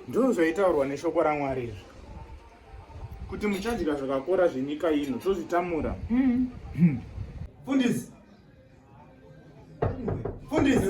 ndizvo zvaitaurwa neshoko ramwari izvi kuti muchadya zvakakora zvenyika ino tozvitamura mm. hmm. fundisi fundisi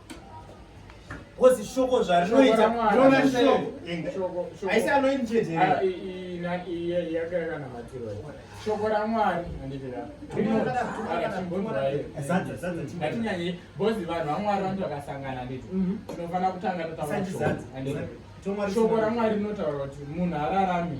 Kozi shoko zvarinoita rona shoko haisi anoini chete ah, yakanamatirwa shoko ramwari anditiaatinyanye bozi vanhu vamwari vanoti vakasangana anditi mhm. tinofanira kutanga tataura shoko ramwari rinotaura kuti munhu hararami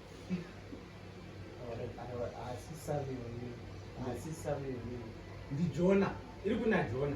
Asi save wewe. Asi save wewe. Ndi Jona. Iri kuna Jona.